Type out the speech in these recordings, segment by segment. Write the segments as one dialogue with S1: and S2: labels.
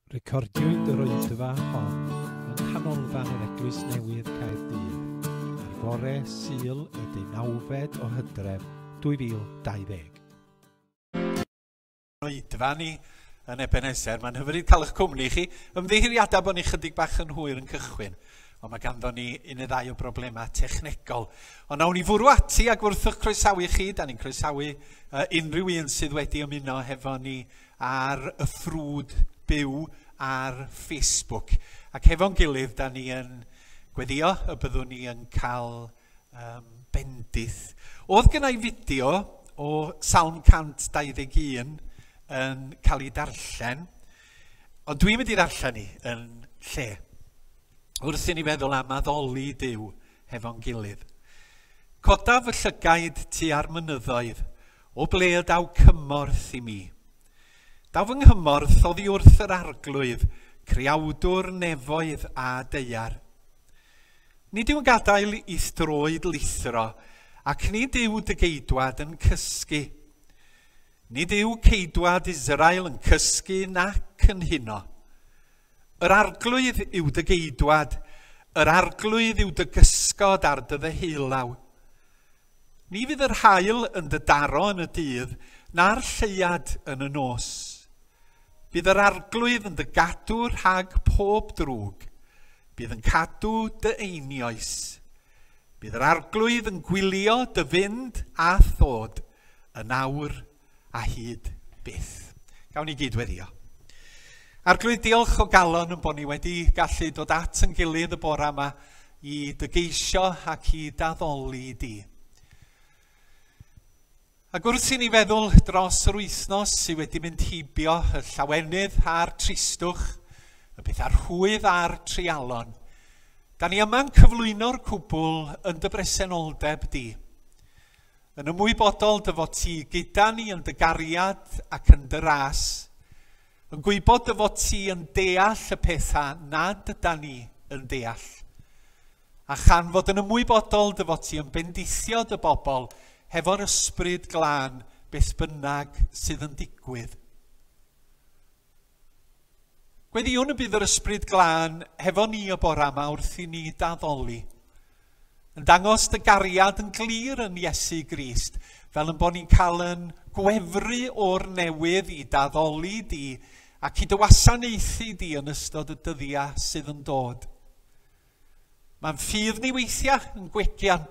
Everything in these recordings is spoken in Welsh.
S1: Recordiwyd yr olygfa hon yng Nghanolfan yr Eglwys Newydd Caerdydd ar fore Sul y deunawfed o Hydref
S2: 2020. Oedfa ni yn Ebeneser. Mae'n hyfryd cael eich cwmni chi. Ymddiheuriadau bod ni chydig bach yn hwyr yn cychwyn, ond mae ganddo ni un neu ddau o broblemau technegol. Ond nawn ni fwrw ati a gwrthych croesawu chi. Da ni'n croesawu uh, unrhyw un sydd wedi ymuno hefo ni ar y ffrwd byw ar Facebook. Ac hefo'n gilydd, da ni yn gweddio y byddwn ni yn cael um, bendith. Oedd gennau fideo o Salm 121 yn cael ei darllen, ond dwi'n mynd i ddarllen ni yn lle. Wrth i ni feddwl am addoli Dyw hefo'n gilydd. Codaf y llygaid tu ar mynyddoedd, O ble y daw cymorth i mi? Daw fy nghymorth oddi wrth yr arglwydd, creawdwr nefoedd a deiar. Nid yw'n gadael i throed lithro, ac nid yw dy geidwad yn cysgu. Nid yw ceidwad Israel yn cysgu nac yn huno. Yr arglwydd yw dy geidwad, yr arglwydd yw dy gysgod ar dy ddeheulaw. Ni fydd yr haul yn dy daro yn y dydd, na'r lleuad yn y nos. Bydd yr arglwydd yn dy gadw rhag pob drwg. Bydd yn cadw dy einioes. Bydd yr arglwydd yn gwylio dy fynd a thod yn awr a hyd byth. Gawn ni gyd weddio. Arglwydd, diolch o galon yn bod ni wedi gallu dod at yn gilydd y bore yma i dygeisio ac i daddoli di. Ac wrth i ni feddwl dros yr wythnos sydd wedi mynd heibio y llawenydd a'r tristwch, y pethau rhwydd a'r trialon, da ni yma'n cyflwyno'r cwbl yn dy bresenoldeb di. Yn ymwybodol dy fod ti gyda ni yn dy gariad ac yn dy ras. Yn gwybod dy fod ti yn deall y pethau nad yda ni yn deall. A chan fod yn ymwybodol dy fod ti yn bendithio dy bobl hefo'r ysbryd glân beth bynnag sydd yn digwydd. Gweddïwn y bydd yr Ysbryd Glân hefo ni y bore yma wrth i ni daddoli, yn dangos dy gariad yn glir yn Iesu Grist, fel yn bod ni'n cael yn gwefru o'r newydd i daddoli di ac i dy wasanaethu di yn ystod y dyddiau sydd yn dod. Mae'n ffydd ni weithiau yn gwegian.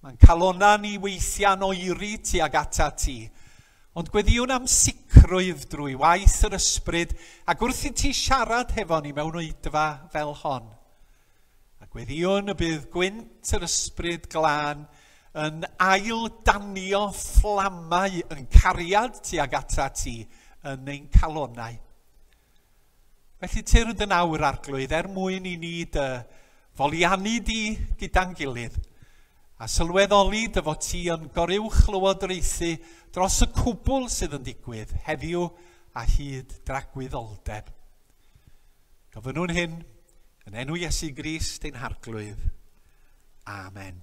S2: Mae'n calona ni weithiau'n oeri tuag ata ti. Ond gweddiwn am sicrwydd drwy waith yr ysbryd ac wrth i ti siarad hefo ni mewn oedfa fel hon. A gweddiwn y bydd gwynt yr ysbryd glân yn ail danio fflamau yn cariad tuag ata ti yn ein calonau. Felly tyrd yn awr, Arglwydd, er mwyn i ni dy foliannu di gyda'n gilydd, a sylweddoli dy fod ti yn goruwchlywodraethu dros y cwbl sydd yn digwydd heddiw a hyd dragwyddoldeb. Gofynnwn hyn yn enw Iesu Grist ein Harglwydd. Amen.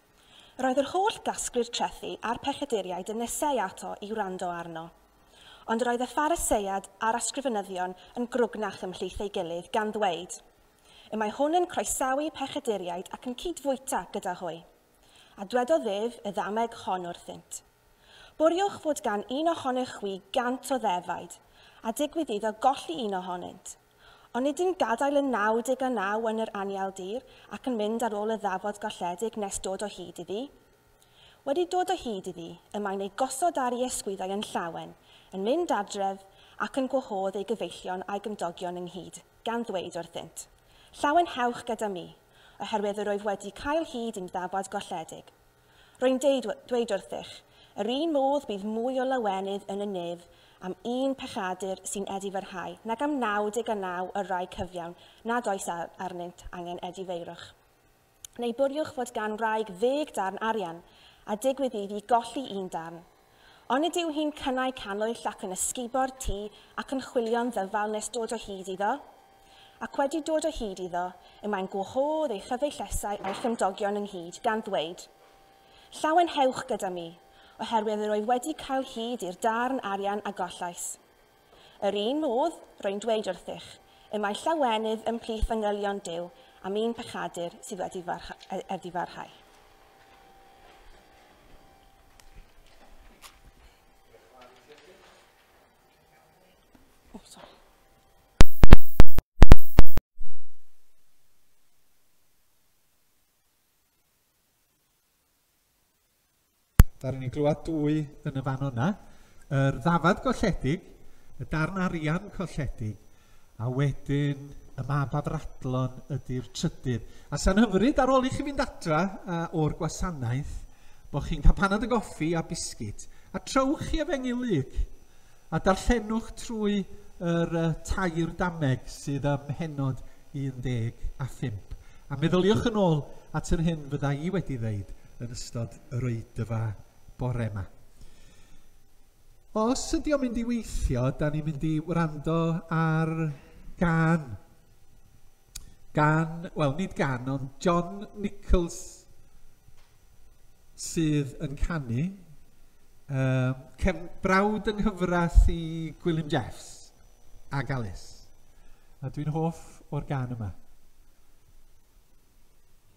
S3: Roedd yr holl gasglu'r trethi a'r pechaduriaid yn neseau ato i wrando arno. Ond roedd y Phariseiad a'r Ysgrifenyddion yn grwgnach ymhlith ei gilydd, gan ddweud, Y mae hwn yn croesawu pechaduriaid ac yn cyd-fwyta gyda hwy. A dwedodd ef y ddameg hon wrthynt, Bwriwch fod gan un ohonych chwi gant o ddefaid, a digwydd iddo golli un ohonynt, Onid yn gadael yn 99 yn yr anial dir ac yn mynd ar ôl y ddafod golledig nes dod o hyd iddi? Wedi dod o hyd iddi, y mae'n ei gosod ar ei ysgwyddau yn llawen, yn mynd adref, ac yn gwahodd ei gyfeillion a'i gymdogion ynghyd, gan ddweud wrthynt, Llawenhewch gyda mi, oherwydd yr wyf wedi cael hyd i'n ddafod golledig. Rwy'n deud, dweud wrthych, yr un modd bydd mwy o lawenydd yn y nef am un pechadur sy'n edifyrhau nag am 99 y rai cyfiawn nad oes arnynt angen edifeirwch. Neu bwriwch fod gan wraig ddeg darn arian, a digwydd iddi golli un darn, Onid yw hi'n cynnau cannwyll ac yn ysgubo'r tŷ ac yn chwilio'n ddyfal nes dod o hyd iddo? Ac wedi dod o hyd iddo, y mae'n gwahodd ei chyfeillesau a'i chymdogion ynghyd, gan ddweud, Llawenhewch gyda mi, oherwydd yr oedd wedi cael hyd i'r darn arian a gollais. Yr un modd, rwy'n dweud wrthych, y mae llawenydd ymhlith fanylion Duw am un pechadur sydd wedi farch- farhau.
S2: Da ni'n glywed dwy yn y fan o'na. Yr ddafad golledig, y darn arian colledig, a wedyn y mab afradlon ydy'r trydydd. A sa'n hyfryd ar ôl i chi fynd adra uh, o'r gwasanaeth, bod chi'n cael panad y goffi a bisgit, a trowch chi efengyl lug. A darllenwch trwy yr uh, tair dameg sydd ym mhenod 15. A meddyliwch yn ôl at yr hyn fydda i wedi ddeud yn ystod yr oedfa bore yma. Os ydy o'n mynd i weithio, da ni'n mynd i wrando ar gan gan, wel nid gan, ond John Nichols sydd yn canu. Uh, cef, brawd yng nghyfres i Gwilym Jeffs a Galus. A dwi'n hoff o'r gan yma.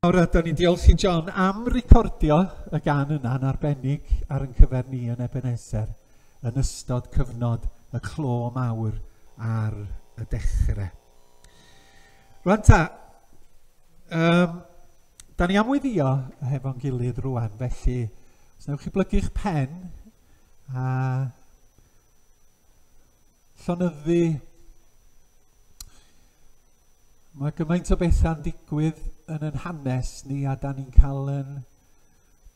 S2: Nawr ydyn ni'n diolch i John am recordio y gan yna yn arbennig ar yn cyfer ni yn Ebenezer yn ystod cyfnod y clo mawr ar y dechrau. Rwan ta, um, da ni am weddio hefo'n gilydd rwan, felly os newch chi blygu'ch pen a llonyddu. Mae gymaint o bethau'n digwydd yn yn hanes ni a da ni'n cael yn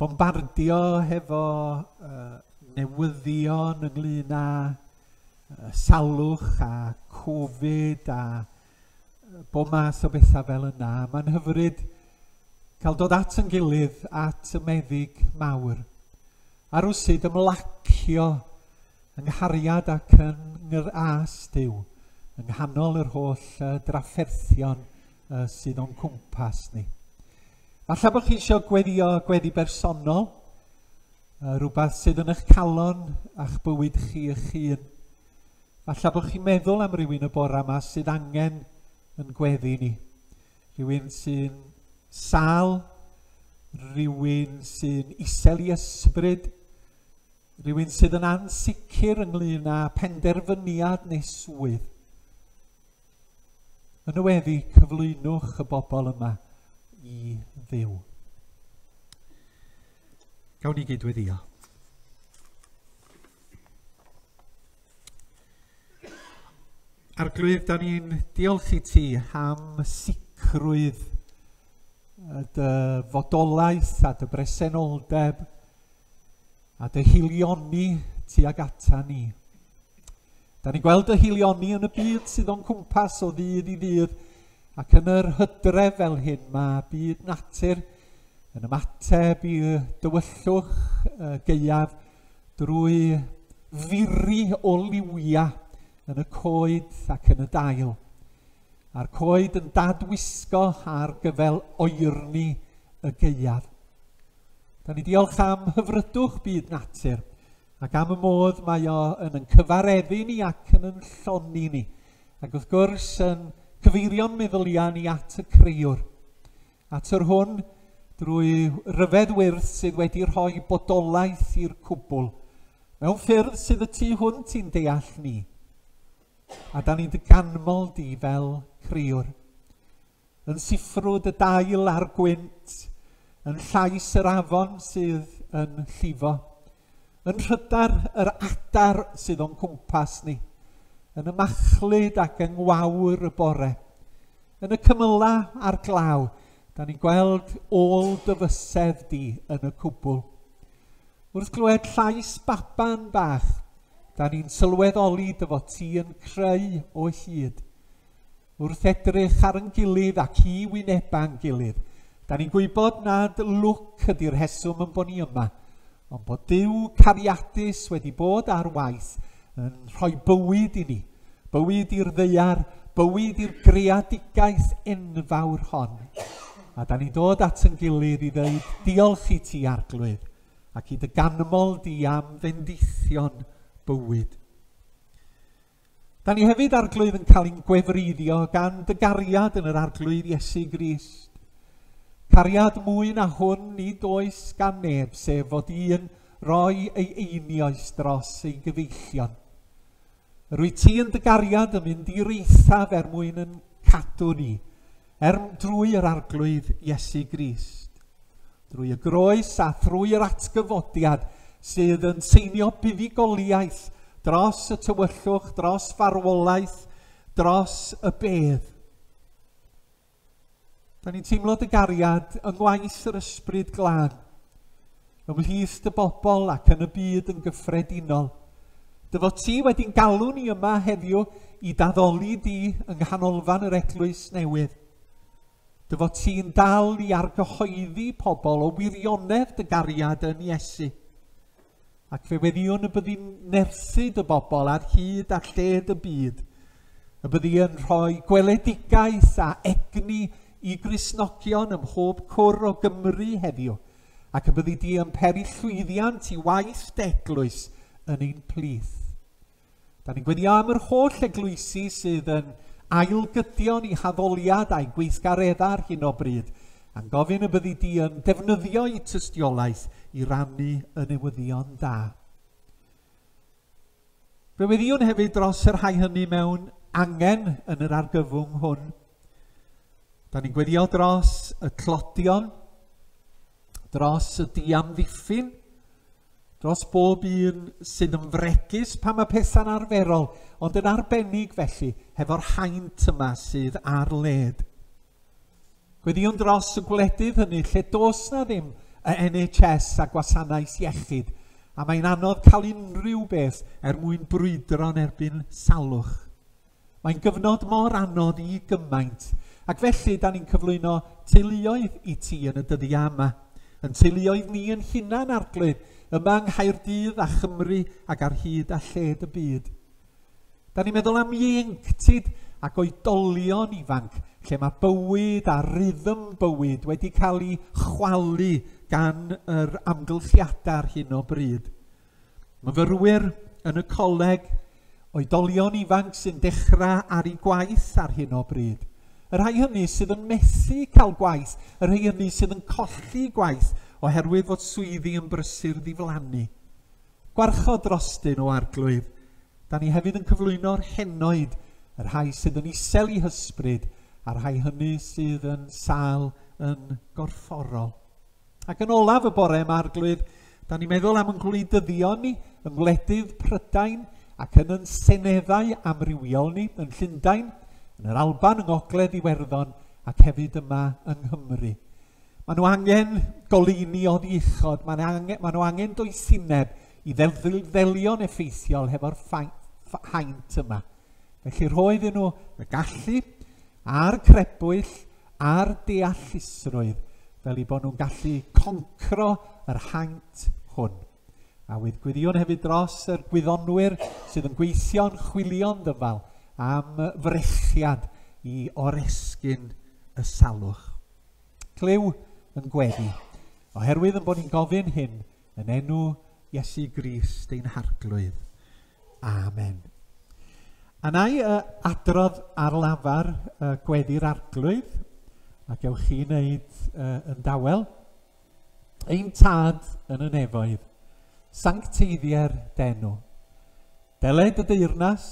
S2: bombardio hefo uh, newyddion ynglyn â uh, salwch a Covid a uh, bo mas o bethau fel yna. Mae'n hyfryd cael dod at yn gilydd at y meddyg mawr. A rwysid ymlacio Fy nghariad ac yng ngrâs Duw, yng nghanol yr holl uh, drafferthion uh, sydd o'n cwmpas ni. Falle bod chi eisiau gweddio gweddi bersonol, uh, rhywbeth sydd yn eich calon a'ch bywyd chi eich hun. Falle bod chi'n meddwl am rywun y bore yma sydd angen yn gweddi ni. Rhywun sy'n sal, rhywun sy'n isel i ysbryd, Rhywun sydd yn ansicr ynglŷn â phenderfyniad neu swydd. Yn y weddi, cyflwynwch y bobl yma i ddiw. Gawn ni gydweddio. Arglwydd, da ni'n diolch i ti am sicrwydd y dy fodolaeth a dy bresenoldeb a dy hilioni tuag ata ni. Da ni'n gweld y hilioni yn y byd sydd o'n cwmpas o ddydd i ddydd, ac yn yr hydref fel hyn mae byd natur yn ymateb i dywyllwch y geiaf drwy firi o liwiau yn y coed ac yn y dail. A'r coed yn dadwisgo ar gyfel oerni y geiaf. Da ni diolch am hyfrydwch byd natur ac am y modd mae o yn yn cyfareddu ni ac yn yn lloni ni. Ac wrth gwrs yn cyfeirio'n meddyliau ni at y creiwr. At yr hwn drwy ryfedd wyrth sydd wedi rhoi bodolaeth i'r cwbl. Mewn ffyrdd sydd y tu hwnt i'n deall ni. A da ni'n dy ganmol di fel creiwr. yn siffrwd y dail a'r gwynt, yn llais yr afon sydd yn llifo, yn rhydar yr adar sydd o'n cwmpas ni, yn y machlud ac yng ngwawr y bore, yn y cymyla a'r glaw, da ni'n gweld ôl dyfysedd di yn y cwbl. Wrth glywed llais baban bach, da ni'n sylweddoli dy fod ti yn creu o hyd. Wrth edrych ar yn gilydd ac i wyneba yn gilydd, da ni'n gwybod nad lwc ydy'r rheswm yn bod ni yma, ond bod Duw cariadus wedi bod ar waith yn rhoi bywyd i ni, bywyd i'r ddeiar, bywyd i'r greadigaeth enfawr hon. A da ni'n dod at yn gilydd i ddeud diolch i ti, Arglwydd, ac i dy ganmol di am fendithion bywyd. Da ni hefyd arglwydd yn cael ein gwefreiddio gan dy gariad yn yr arglwydd Iesu Grist. Cariad mwy na hwn nid oes gan neb sef fod un roi ei einioes dros ei gyfeillion. Rwy ti yn dy gariad yn mynd i'r eithaf er mwyn yn cadw ni Er drwy yr arglwydd Iesu Grist, drwy y groes a thrwy yr atgyfodiad sydd yn seinio buddugoliaeth dros y tywyllwch, dros farwolaeth, dros y bedd. Da ni'n teimlo dy gariad yng ngwaith yr ysbryd glân. ymhlith dy bobl ac yn y byd yn gyffredinol. Dy fod ti wedi'n galw ni yma heddiw i daddoli di yng nghanolfan yr eglwys newydd. Dy fod ti'n dal i argyhoeddi pobl o wirionedd dy gariad yn Iesu. Ac fe weddiwn y byddi'n nerthu dy bobl ar hyd a lled y byd, y byddi yn rhoi gweledigaeth a egni i grisnogion ym mhob cwr o Gymru heddiw, ac y
S1: byddi di yn peri llwyddiant i waith deglwys yn ein plith. Da ni'n gweddio am yr holl eglwysi sydd yn ailgydion i haddoliad a'i gweithgareddau ar hyn o bryd, a'n gofyn y byddi di yn defnyddio i tystiolaeth i rannu yn newyddion da. Fe weddiwn hefyd dros y rhai hynny mewn angen yn yr argyfwng hwn. Da ni'n gweddio dros y tlodion, dros y diamddiffyn, dros bob un sydd yn fregus pan mae pethau'n arferol, ond yn arbennig felly hefo'r haint yma sydd ar led. Gweddïwn dros y gwledydd hynny lle does na ddim y NHS a gwasanaeth iechyd, a mae'n anodd cael unrhyw beth er mwyn brwydro'n erbyn salwch. Mae'n gyfnod mor anodd i gymaint, ac felly da ni'n cyflwyno teuluoedd i ti yn y dyddiau yma. Yn teuluoedd ni yn hunan arglwydd, yma yng Nghaerdydd a Chymru ac ar hyd a lled y byd. Da ni'n meddwl am ieuenctid ac oedolion ifanc, lle mae bywyd a rhythm bywyd wedi cael ei chwalu gan yr amgylchiadau ar hyn o bryd. Myfyrwyr yn y coleg, oedolion ifanc sy'n dechrau ar ei gwaith ar hyn o bryd. Y rhai hynny sydd yn methu cael gwaith, y rhai hynny sydd yn colli gwaith oherwydd fod swyddi yn brysur ddiflannu. Gwarchod drostyn o Arglwydd. Da ni hefyd yn cyflwyno'r henoed, y rhai sydd yn isel i hysbryd, a'r rhai hynny sydd yn sal yn gorfforol. Ac yn olaf y bore yma, Arglwydd, da ni'n meddwl am yng ngwleidyddion ni, yng ngwledydd Prydain ac yn yn seneddau amrywiol ni, yn Llundain, yn yr Alban, yng Ngogledd Iwerddon ac hefyd yma yng Nghymru. Maen nhw angen goleuni oddi uchod, maen nhw angen, maen nhw angen doethineb i ddelio'n effeithiol hefo'r haint yma. Felly rhoi iddyn nhw y gallu a'r crebwyll a'r deallusrwydd fel i bod nhw'n gallu concro yr haint hwn. A wydd gwiriwn hefyd dros yr gwyddonwyr sydd yn gweithio'n chwilio'n ddyfal am frechiad i oresgyn y salwch. Clyw yn gweddu, oherwydd yn bod ni'n gofyn hyn yn enw Iesu Grist ein Harglwydd. Amen. A na i uh, adrodd ar lafar uh, gweddi'r arglwydd, ac ewch chi wneud uh, yn dawel. Ein Tad yn y nefoedd, sancteiddier d'enw. Deled y deyrnas,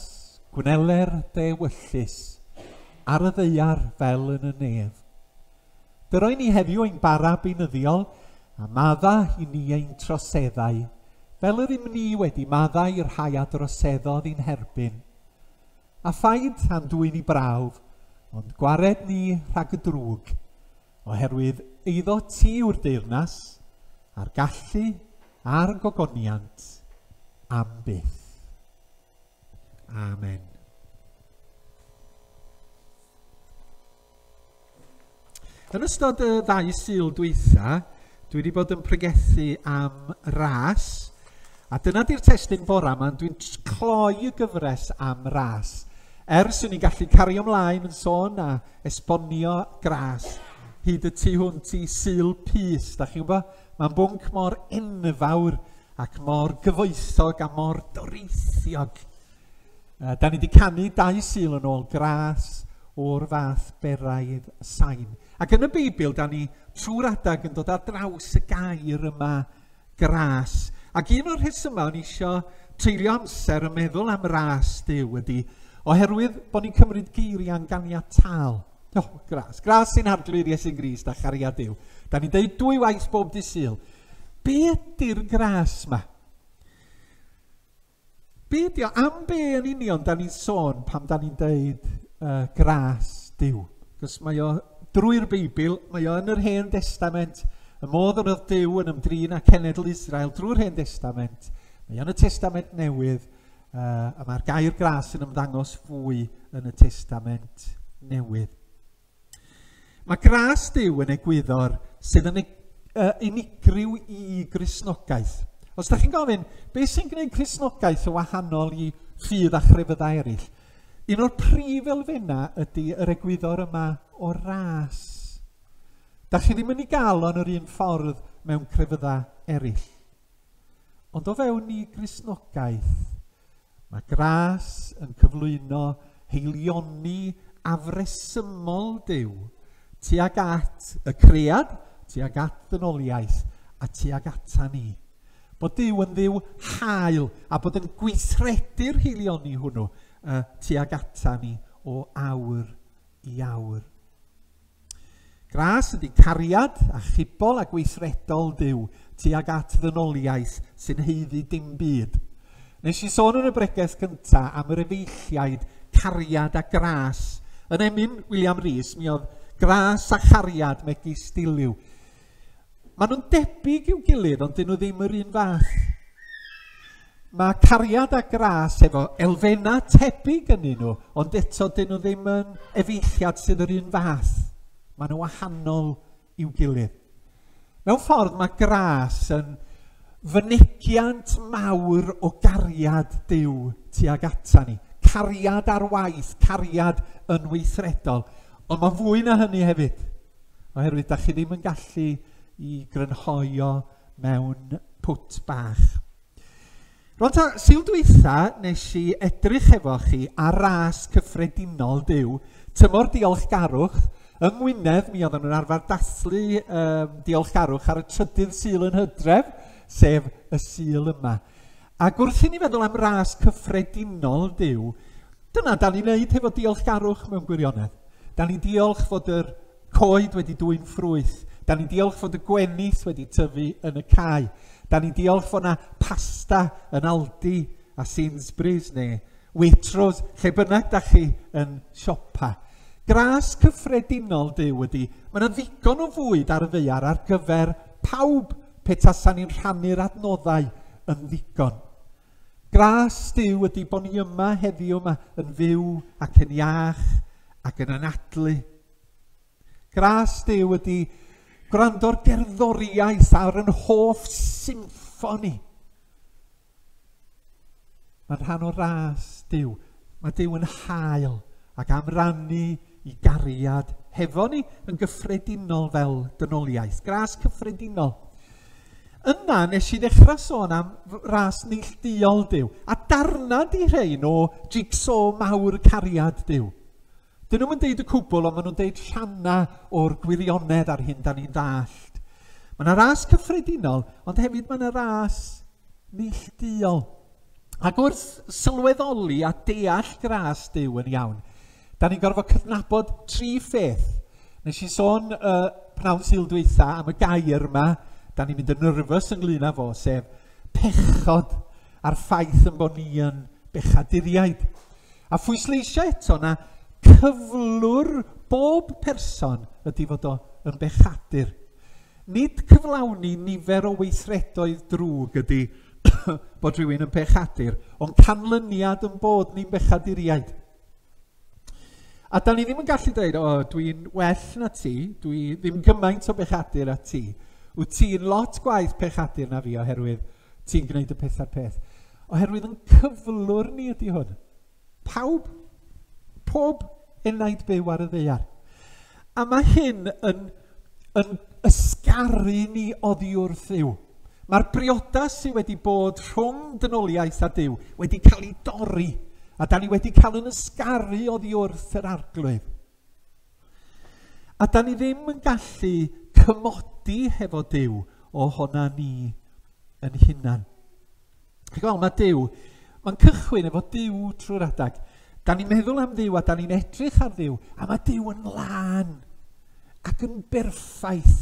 S1: gwneler dy ewyllys, ar y ddeiar fel yn y nef. Dyroi ni heddiw ein bara beinyddiol, a madda i ni ein troseddau, fel yr ym ni wedi maddau i'r rhai a droseddodd i'n herbyn. A phaid a'n dwy'n i brawf, ond gwared ni rhag y drwg, oherwydd eiddo ti yw'r deyrnas, a'r gallu, a'r gogoniant, am byth. Amen. Yn ystod y ddau syl dweitha, dwi wedi bod yn pregethu am ras A dyna di'r testyn fora yma, dwi'n cloi y gyfres am ras. Ers i ni gallu cario ymlaen yn sôn a esbonio gras hyd y tu hwnt i syl pys, da chi'n gwybod? Mae'n bwnc mor enfawr ac mor gyfoethog a mor doreithiog. Uh, da ni wedi canu dau syl yn ôl gras o'r fath beraidd sain. Ac yn y Beibl, da ni trwy'r adag yn dod ar draws y gair yma gras. Ac un o'r rhesymau o'n i isio treulio amser yn meddwl am ras Duw ydy, oherwydd bod ni'n cymryd geiriau'n ganiataol. O, oh, gras. Gras sy'n arglwydd Iesu'n Grist a chariad Duw. Da ni'n deud dwy waith bob dydd syl. Be ydy'r gras yma? Be ydi o? Am be yn union da ni'n sôn pam da ni'n deud uh, gras Dyw? Cos mae o drwy'r Beibl, mae o yn yr Hen Testament, y modd yr oedd Dyw yn ymdrin â cenedl Israel drwy'r Hen Testament, mae o'n y Testament Newydd, uh, a mae'r gair gras yn ymddangos fwy yn y Testament Newydd. Mae gras Duw yn egwyddor sydd yn eg- uh, unigryw i Gristnogaeth. Os da chi'n gofyn, beth sy'n gwneud Cristnogaeth yn wahanol i ffydd a chrefyddau eraill? Un o'r prif elfennau ydy yr egwyddor yma o ras. Da chi ddim yn ei gael o'n yr un ffordd mewn crefyddau eraill. Ond o fewn ni Gristnogaeth, mae gras yn cyflwyno heilioni afresymol Duw tuag at y cread, tuag at ddynoliaeth a tuag ata ni. Bod Duw yn ddiw hael a bod yn gweithredu'r heilioni hwnnw uh, tuag ata ni o awr i awr. Gras ydy cariad achubol a gweithredol Duw tuag at ddynoliaeth sy'n haeddu dim byd. Nes i sôn yn y bregeth gynta am yr efeilliaid cariad a gras. Yn emyn William Rees, mi oedd gras a chariad megis diliw. Maen nhw'n debyg i'w gilydd, ond dyn nhw ddim yr un fath. Mae cariad a gras efo elfennau tebyg yn un nhw, ond eto dyn nhw ddim yn efeilliad sydd yr un fath. Maen nhw wahanol i'w gilydd. Mewn ffordd mae gras yn fynegiant mawr o gariad Dyw tuag ata ni. Cariad ar waith, cariad yn weithredol. Ond mae fwy na hynny hefyd. oherwydd dach chi ddim yn gallu i grynhoi o mewn pwt bach. Rwan ta, syl dwytha nes i edrych efo chi ar ras cyffredinol byw, tymor diolchgarwch, yng Ngwynedd mi oedden nhw'n arfer dathlu um, diolchgarwch ar y trydydd syl yn hydref, sef y syl yma. Ac wrth i ni feddwl am ras cyffredinol Duw, dyna dan ni'n neud hefo diolchgarwch mewn gwirionedd. Dan ni'n diolch fod yr coed wedi dwy'n ffrwyth. Dan ni'n diolch fod y gwenith wedi tyfu yn y cae. Dan ni'n diolch fod yna pasta yn Aldi a Sainsbury's neu Waitrose, lle bynnag da chi yn siopa. Gras cyffredinol Duw ydy, mae yna ddigon o fwyd ar y ddaear ar gyfer Pawb, pe tasan ni'n rhannu'r adnoddau yn ddigon. Gras Duw ydy bod ni yma heddiw yma yn fyw ac yn iach ac yn anadlu. Gras Duw ydy gwrando'r gerddoriaeth ar yn hoff symffoni. Mae'n rhan o ras Duw. Mae Duw yn hael ac am rannu i gariad hefo ni yn gyffredinol fel dynoliaeth. Gras cyffredinol. Yna nes i ddechrau sôn am ras neillduol Duw a darna di rhein o jigsaw mawr cariad Duw. Dyn nhw'm yn deud y cwbl ond maen nhw'n deud rhannau o'r gwirionedd ar hyn da ni'n dallt. Mae yna ras cyffredinol, ond hefyd mae yna ras neillduol. Ac wrth sylweddoli a deall gras Dyw yn iawn, da ni'n gorfod cydnabod tri pheth. Nes i sôn uh, pnawn syl dweitha am y gair yma, da ni'n mynd yn nyrfys ynglyn â fo, sef pechod a'r ffaith yn bod ni yn bechaduriaid. A phwysleisio eto na cyflwr bob person ydy fod o yn bechadur. Nid cyflawni nifer o weithredoedd drwg ydy bod rhywun yn bechadur, ond canlyniad yn bod ni'n bechaduriaid. A da ni ddim yn gallu dweud, o, dwi'n well na ti, dwi ddim gymaint o bechadur a ti. Wyt ti'n lot gwaith pechadur na fi oherwydd Ti'n gwneud y peth a'r peth. Oherwydd yn cyflwr ni ydy hwn. Pawb, pob enaid byw ar y ddeiar. A mae hyn yn, yn ysgaru ni oddi wrth yw. Mae'r briodas sydd wedi bod rhwng dynoliaeth a Dyw wedi cael ei dorri, a da ni wedi cael yn ysgaru oddi wrth yr arglwydd. A da ni ddim yn gallu cymodi hefo Dyw o hona ni yn hunan. Chi'n gweld, mae Dyw, mae'n cychwyn efo Dyw trwy'r adag. Da ni'n meddwl am Dduw a da ni'n edrych ar Dduw, a mae Dyw yn lân ac yn berffaith.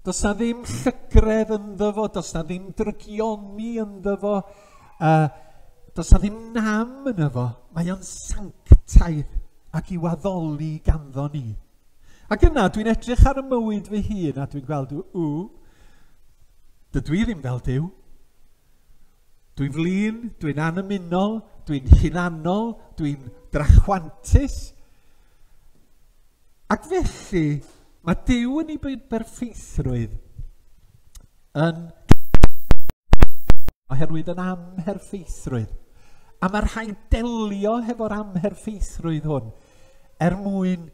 S1: Does na ddim llygredd ynddo fo, does na ddim drygioni ynddo fo, Yy, does 'na ddim nam ynddo fo, mae o'n sanctaidd ac i'w addoli ganddo ni. Ac yna, dwi'n edrych ar y mywyd fy hun a dwi'n gweld, ww, dydw i ddim fel Duw. Dwi'n flin, dwi'n annymunol, dwi'n hunanol, dwi'n drachwantus. Ac felly, mae Duw yn ei berffeithrwydd yn oherwydd yr amherffeithrwydd. A mae rhaid delio hefo'r amherffeithrwydd hwn er mwyn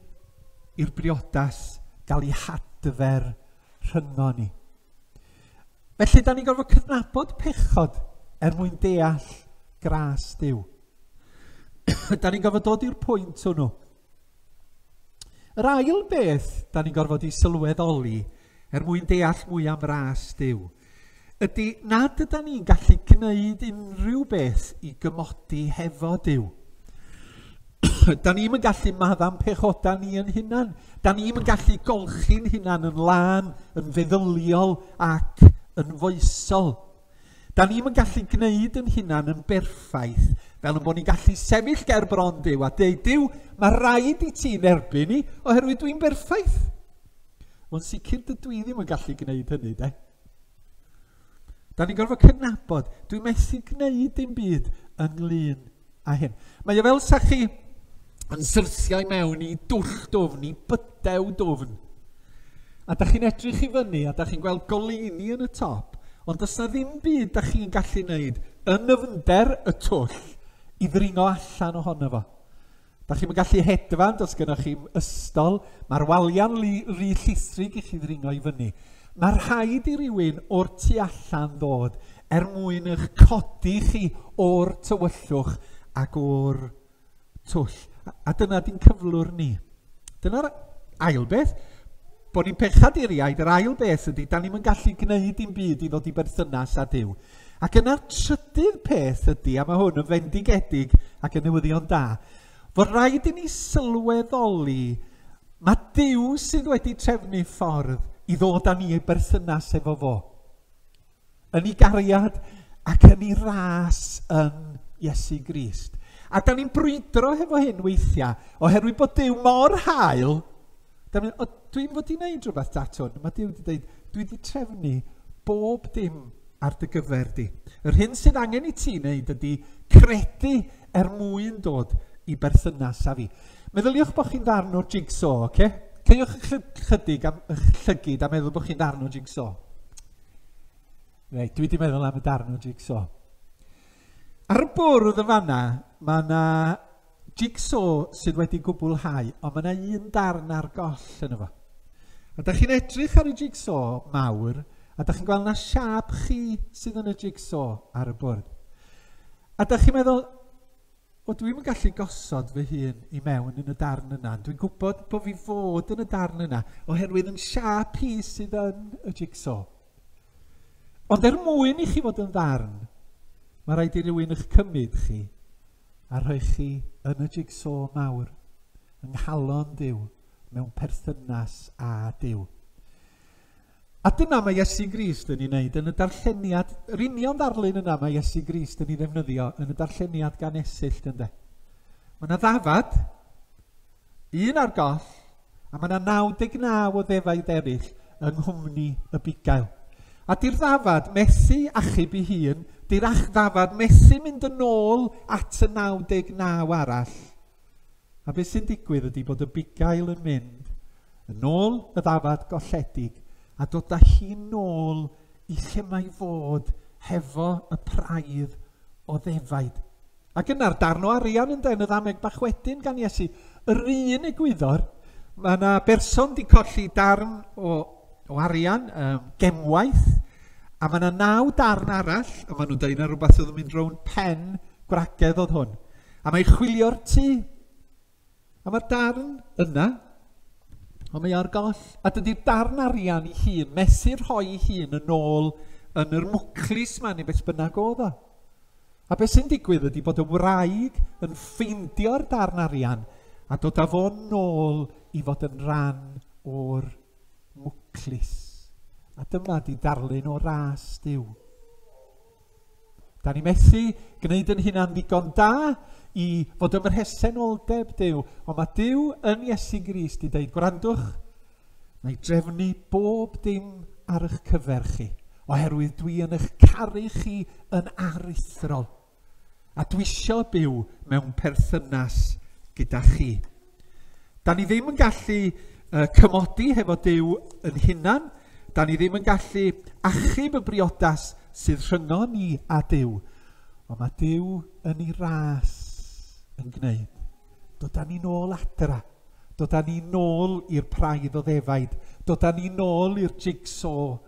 S1: i'r briodas gael ei hadfer rhyngo ni. Felly, da ni'n gorfod cydnabod pechod er mwyn deall gras diw. da ni'n gorfod dod i'r pwynt hwnnw Yr ail beth da ni'n gorfod ei sylweddoli er mwyn deall mwy am ras Dyw ydy nad yda ni'n gallu gwneud unrhyw beth i gymodi hefo Dyw. da ni'n yn gallu maddam pechoda ni yn hunan. Da ni'n yn gallu golchi'n hunan yn lân, yn feddyliol ac yn foesol. Da ni'm yn gallu gwneud yn hunan yn berffaith, fel yn bod ni'n gallu sefyll ger bron Duw a deud, Duw, mae rhaid i ti nerbyn ni, oherwydd dwi'n berffaith. Ond sicr dydw i ddim yn gallu gwneud hynny, de. Da ni'n gorfod cydnabod, dwi'n methu gwneud dim byd ynglyn a hyn. Mae o fel sa chi yn syrthiau mewn i dwll dwfn, i bydew dwfn. A da chi'n edrych i fyny a da chi'n gweld goleuni yn y top, ond does na ddim byd da chi'n gallu wneud yn nyfnder y twll i ddringo allan ohono fo. Dach chi'm yn gallu hedfan, does gennych chi'm ystol, mae'r waliau'n rhy, rhy llithrig i chi ddringo i fyny. Mae rhaid i rywun o'r tu allan ddod er mwyn eich codi chi o'r tywyllwch ac o'r twll. A, a dyna di'n cyflwr ni. Dyna'r ail beth, bod ni'n pechaduriaid, yr ail beth ydy, da ni'n gallu gwneud dim byd i ddod i berthynas â Dyw. Ac yna'r trydydd peth ydy, a mae hwn yn fendigedig ac yn newyddion da, fod rhaid i ni sylweddoli mae Duw sydd wedi trefnu ffordd i ddod â ni ei berthynas efo fo. Yn ei gariad ac yn ei ras yn Iesu Grist. A da ni'n brwydro hefo hyn weithiau, oherwydd bod Duw mor hael, Da mynd, o, dwi wedi wneud rhywbeth datwn. Mae Dyw wedi dweud, dwi wedi trefnu bob dim ar dy gyfer di. Yr hyn sydd angen i ti wneud ydy credu er mwyn dod i berthynas â fi. Meddyliwch bod chi'n ddarn o'r jigsaw, oce? Okay? Ceiwch ychydig am eich llygyd a meddwl bod chi'n ddarn o'r jigsaw. Reit, dwi wedi meddwl am y darn o'r jigsaw. Ar y bwrdd yn fanna, mae yna jigsaw sydd wedi gwblhau, ond mae yna un darn ar goll yn efo. A da chi'n edrych ar y jigsaw mawr, a da chi'n gweld na siap chi sydd yn y jigsaw ar y bwrdd. A da chi'n meddwl, o dwi'm yn gallu gosod fy hun i mewn yn y darn yna, dwi'n gwybod bod fi fod yn y darn yna, oherwydd yn siap hi sydd yn y jigsaw. Ond er mwyn i chi fod yn ddarn, mae rhaid i rywun eich cymryd chi a rhoi chi yn y jigsaw mawr, yng nghalon Duw, mewn perthynas â Duw. A dyna mae Iesu Grist yn ei wneud yn y darlleniad, yr union ddarlun yna mae Iesu Grist yn ei ddefnyddio yn y darlleniad gan esillt ynde. Mae yna ddafad, Un ar goll, a mae yna 99 o ddefaid eraill yng nghwmni y bugail. A di'r ddafad methu achub i hun, di'r ach ddafad methu mynd yn ôl at y 99 arall. A beth sy'n digwydd ydy bod y bugail yn mynd yn ôl y ddafad golledig a dod â hi nôl i lle mae fod hefo y praidd o ddefaid. Ac yna'r darn o arian ynde, yn y ddameg bach wedyn gan Iesu, yr un egwyddor, mae yna berson di colli darn o, o arian, um, gemwaith, a mae yna naw darn arall, a maen nhw'n dweud na rhywbeth oedd yn mynd rown pen gwragedd oedd hwn. A mae chwilio'r tu A mae'r darn yna, ond mae ar goll, a dydy'r darn arian ei hun, mesur rhoi ei hun yn ôl yn yr mwclis ma neu beth bynnag oedd o. A beth sy'n digwydd ydy bod y wraig yn ffeindio'r darn arian a dod â fo'n nôl i fod yn rhan o'r mwclis. A dyma di darlun o ras diw. Da ni methu gwneud yn hynna'n ddigon da i fod yn rhesenoldeb Dyw, ond mae Dyw yn Iesu Grist i ddeud, gwrandwch, mae drefnu bob dim ar eich cyfer chi, oherwydd dwi yn eich caru chi yn aruthrol, a dwi eisiau byw mewn perthynas gyda chi. Dan ni ddim yn gallu yy cymodi hefo Duw yn hunan. Dan ni ddim yn gallu achub y briodas sydd rhyngon ni a Duw. Ond mae Duw yn ei ras yn gwneud. Dodan ni'n ôl adra. Dodan ni'n ôl i'r praidd o ddefaid. Dodan ni'n ôl i'r jigsaw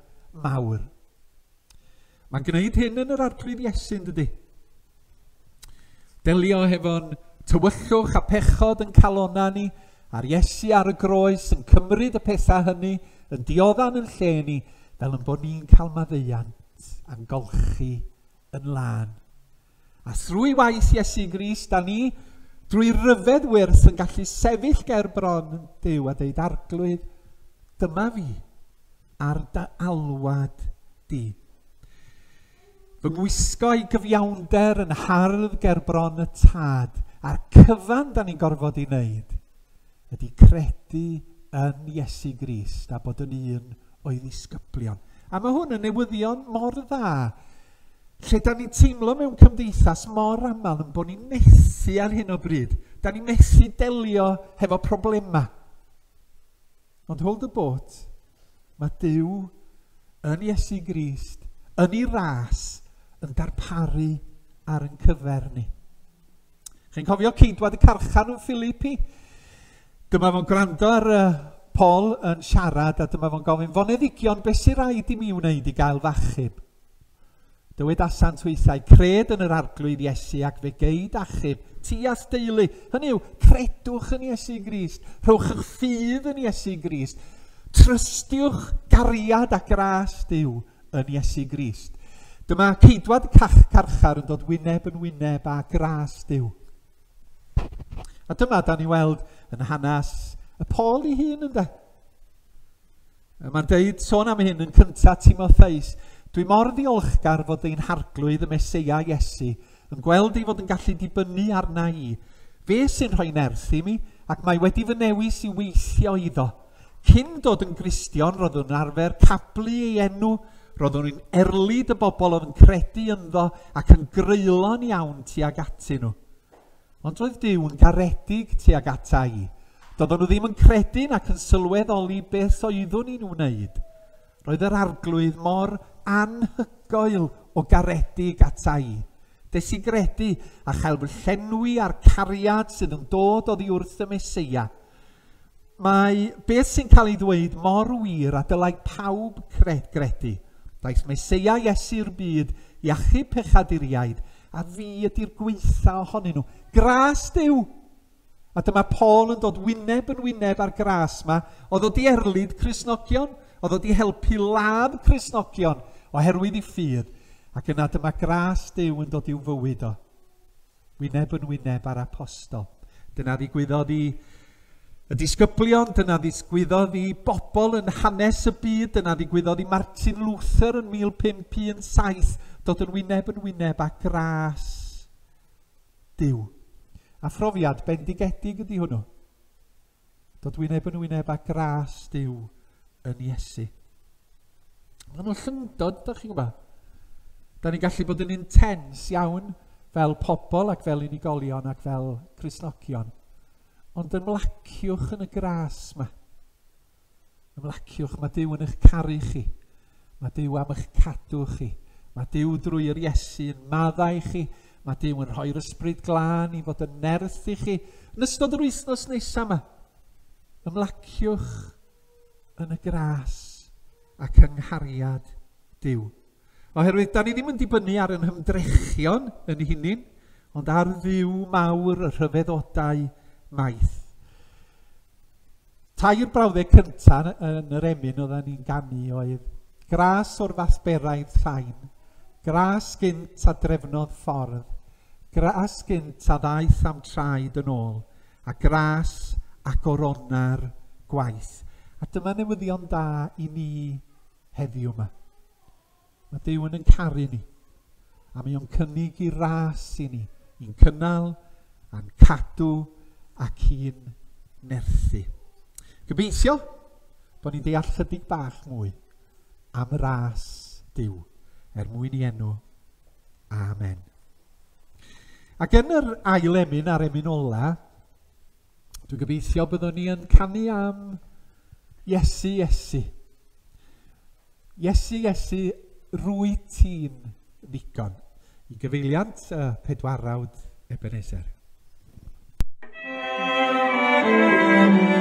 S1: mawr. Mae'n gwneud hyn yn yr arglwydd Iesu, yn dydy? Delio hefo'n tywyllwch a pechod yn calonna ni, a'r Iesu ar y groes yn cymryd y pethau hynny yn dioddan yn lle ni, fel yn bod ni'n cael maddeuant a'n golchi yn lân. A thrwy waith Iesu Gris, da ni, drwy ryfedd wyrth, yn gallu sefyll ger bron Dyw a deud arglwydd, dyma fi, ar dy alwad di. Fy ngwisgo i gyfiawnder yn hardd ger bron y tad, a'r cyfan da ni'n gorfod i wneud, ydy credu yn Iesu Grist a bod yn un o'i ddisgyblion. A mae hwn yn newyddion mor dda Lle da ni'n teimlo mewn cymdeithas mor aml yn bod ni'n methu ar hyn o bryd. Da ni'n methu delio hefo problemau. Ond hold y bot, mae Dyw yn Iesu Grist, yn ei ras, yn darparu ar yn cyfer ni. Chi'n cofio ceidwad y carchan yn Filipi? Dyma fo'n gwrando ar uh, Paul yn siarad a dyma fo'n gofyn, foneddigion, beth sy'n rhaid i mi wneud i gael fachub? Dywedasant weithiau, cred yn yr arglwydd Iesu ac fe geid achub ti a'th deulu. Hynny yw, credwch yn Iesu Grist, rhowch eich ffydd yn Iesu Grist, trystiwch gariad a gras Dyw yn Iesu Grist. Dyma ceidwad cach carchar yn dod wyneb yn wyneb a gras Dyw. A dyma, da ni weld yn hanes y Paul i hun, ynddo? Mae'n deud, sôn am hyn yn cyntaf Timotheus, dwi mor ddiolchgar fod ein harglwydd y Meseia Iesu yn gweld ei fod yn gallu dibynnu arna i. Fe sy'n rhoi nerth i mi, ac mae wedi fy newis i weithio iddo. Cyn dod yn Gristion, roeddwn yn arfer cablu ei enw, roeddwn yn erlid y bobl oedd yn credu ynddo ac yn greulon iawn tuag atyn nhw. Ond doedd Duw yn garedig tuag ata i. Doeddwn nhw ddim yn credu nac yn sylweddoli beth oeddwn i'n wneud. Roedd yr arglwydd mor anhygoel o garedig ata i. Des i gredu a chael fy llenwi â'r cariad sydd yn dod oddi wrth y Meseia – Mae beth sy'n cael ei ddweud mor wir a dylai pawb cred gredu. Daeth Meseia Iesu'r byd i achub pechaduriaid, a fi ydy'r gweitha ohonyn nhw. Gras Duw! A dyma Paul yn dod wyneb yn wyneb â'r gras yma, oedd o di erlid Cresnogion, oedd o di helpu ladd Cresnogion oherwydd ei ffydd, ac yna dyma gras Duw yn dod i'w fywyd o. wyneb yn wyneb â'r apostol. Dyna ddigwyddodd i y disgyblion, dyna ddigwyddodd i bobl yn hanes y byd, dyna ddigwyddodd i Martin Luther yn 1517, dod yn wyneb yn wyneb â gras Dyw. A phrofiad bendigedig ydy hwnnw. Dod wyneb yn wyneb â gras Duw yn Iesu. Mae nhw'n llyndod, da chi'n gwybod. Da ni'n gallu bod yn intens iawn fel pobl ac fel unigolion ac fel Crisnogion. Ond ymlaciwch yn y gras yma. Ymlaciwch, mae Duw yn eich caru chi. Mae Duw am eich cadw chi. Mae Duw drwy yr Iesu yn maddau chi. Mae Duw yn rhoi'r ysbryd glân i fod yn nerth i chi yn ystod yr wythnos nesaf yma. Ymlaciwch yn y gras ac yng nghariad Duw. Oherwydd, da ni ddim yn dibynnu ar yn hymdrechion yn hunin, ond ar ddiw mawr y rhyfeddodau maith. Tair brawddeg cyntaf yn yr emyn oedden ni'n ganu oedd Gras o'r fathberaidd llain, Gras gynt a drefnodd ffordd, Gras gynt a ddaeth am traed yn ôl, a Gras ac oronna'r gwaith. A dyma newyddion da i ni heddiw yma. Mae Duw yn ein caru ni, a mae o'n cynnig i ras i ni, i'n cynnal, a'n cadw ac i'n nerthu. Gobeithio bod ni'n deall chydig bach mwy am y ras Duw er mwyn i enw. Amen. Ac yn yr ail emyn a'r emyn ola, Dwi'n gobeithio byddwn ni yn canu am Iesu, Iesu. Iesu, Iesu, rwy ti'n ddigon. I gyfeiliant y pedwarawd Ebenezer. Thank you.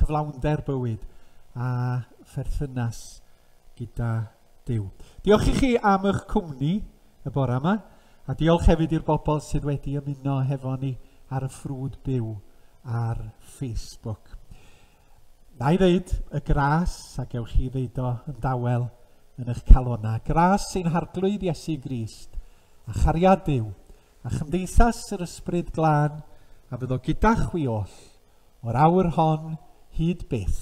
S1: cyflawnder bywyd a pherthynas gyda Duw. Diolch i chi am eich cwmni y bore yma, a diolch hefyd i'r bobl sydd wedi ymuno hefo ni ar y ffrwd byw ar Facebook. Na'i ddeud, y gras, a gewch chi ddeud o yn dawel yn eich calonau, gras sy'n harglwydd Iesu Grist, a chariad Duw, a chymdeithas yr Ysbryd Glân, a fydd o gyda chwi oll, o'r awr hon hyd byth.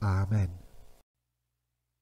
S1: Amen.